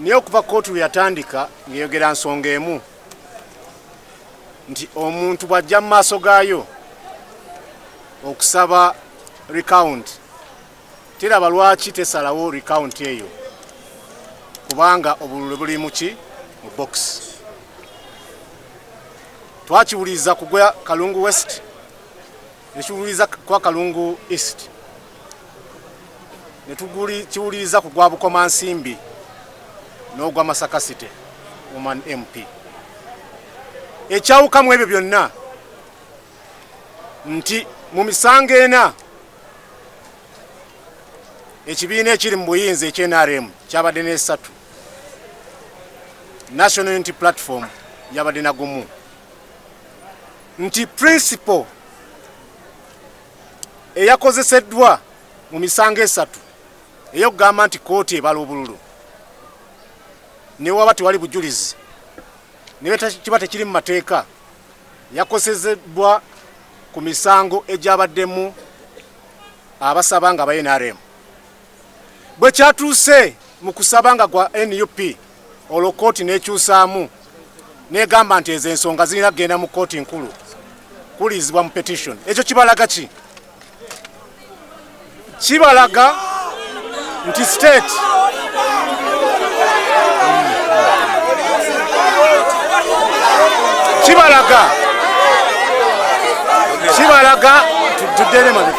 naye okuva kootu lwe yatandika ng'eyogera nsonga emu nti omuntu bw'ajja mu maaso gaayo okusaba recount teraba lwaki tesalawo recount eyo kubanga obululu buli muki mu box twakiwuliriza kugwa kalungu west nekiwuliriza kwa kalungu east netuguli kiwuliriza ku gwa bukoma nsimbi n'ogwa masaka city woman mp ekyawukamu ebyo byonna nti mu misango ena ekibiina ekiri mu buyinza ekynrm kyabadde n'esatu national unity platform yabadde nagumu nti principal eyakozeseddwa mu misango esatu eyokugamba nti kooti ebala obululu newaba tewali bujulizi nekiba tekiri mu mateeka yakosezeddwa ku misango egyabaddemu abasaba nga aba nrm bwekyatuuse mu kusaba nga gwa nup olwo kkooti n'ekyusaamu n'egamba nti ezo ensonga zirina kugenda mu kkooti nkulu kuwulirizibwa mu petition ekyo kibalaga ki kibalaga nti state kibalaga kibalaga tuddere mabega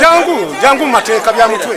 jangu jangu mateeka bya mutwe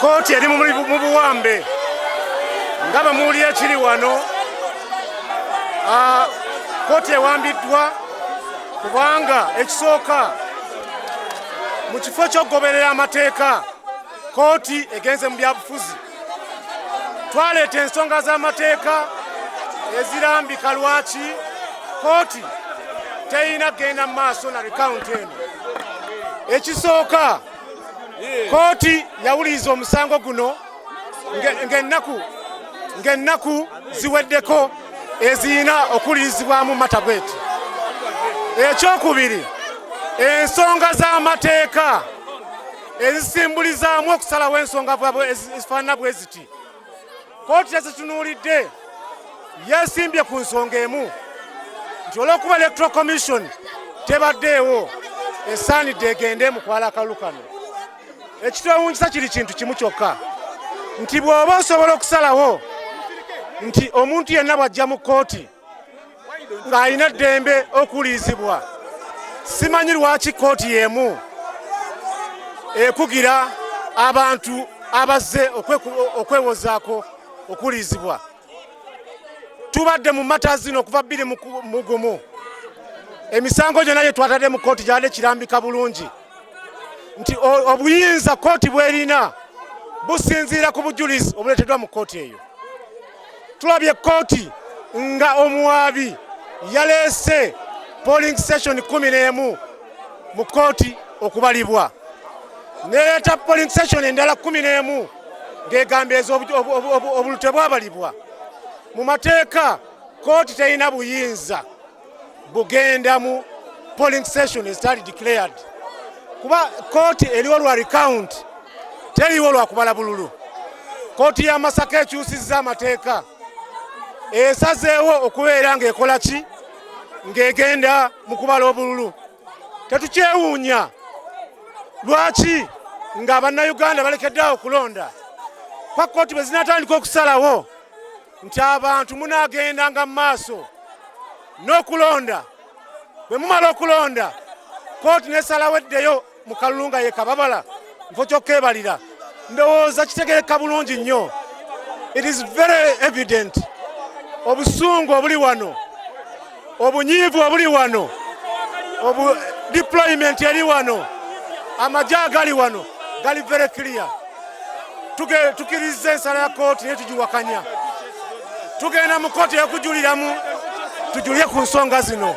kooti eri mu buwambe nga bamuwulira ekiri wano ah, kooti ewambiddwa kubanga ekisooka mu kifo ky'okugoberera amateeka kooti egenze mu byabufuzi twaleeta ensonga z'amateeka ezirambika lwaki kooti terina kugenda mu maaso na rekawunti eno ekisooka kooti yawuliriza omusango guno ng'ennaku ng'ennaku ziweddeko ezirina okuwulirizibwamu matabweti ekyokubiri ensonga z'amateeka ezisimbulizaamu okusalawo ensonga ezifaanana bwe ziti kooti yazitunuulidde yeesimbye ku nsonga emu nti olw'okuba electoral commission tebaddeewo esaanidde egende mu kwala akalu kano ekitwewuunyisa kiri kintu kimu kyokka nti bw'oba osobola okusalawo nti omuntu yenna bw'ajja mu kkooti ng'alina eddembe okuwulirizibwa simanyi lwaki kkooti y'emu ekugira abantu abazze okwewozaako okuwulirizibwa tubadde mu mata zino okuva bbiri mu gumu emisango gyonna gye twatadde mu kkooti gyabadde kirambika bulungi nti obuyinza kkooti bwerina businziira ku bujulizi obuleeteddwa mu kkooti eyo Tulabye kkooti nga omuwaabi yaleese polling station kumi n'emu mu kkooti okubalibwa nereeta polling station endala kumi n'emu ng'egamba ezo obululu tebwabalibwa mu mateeka kkooti terina buyinza bugenda mu polling station ezitali declared kuba kooti eriwo lwa recount teriwo lwa kubala bululu kooti ya masaka ekyusizza amateeka esazeewo okubeera ng'ekola ki ng'egenda mu kubala obululu tetukyewuunya lwaki nga bannayuganda balekeddeawo okulonda pakkooti bwe zinatandika okusalawo nti abantu munaagendanga mu maaso n'okulonda bwe mumala okulonda kooti nesalawo eddeyo mu kalulu nga yekababala nfo kyokka ebalira ndowooza kitegereka bulungi nnyo it is very evident obusungu obuli wano obunyiivu obuli wano obu deployment eri wano amagye agali wano gali very clear tukiriza ensala ya kooti naye tugiwakanya tugenda mu kooti yokujuliramu tujulire ku nsonga zino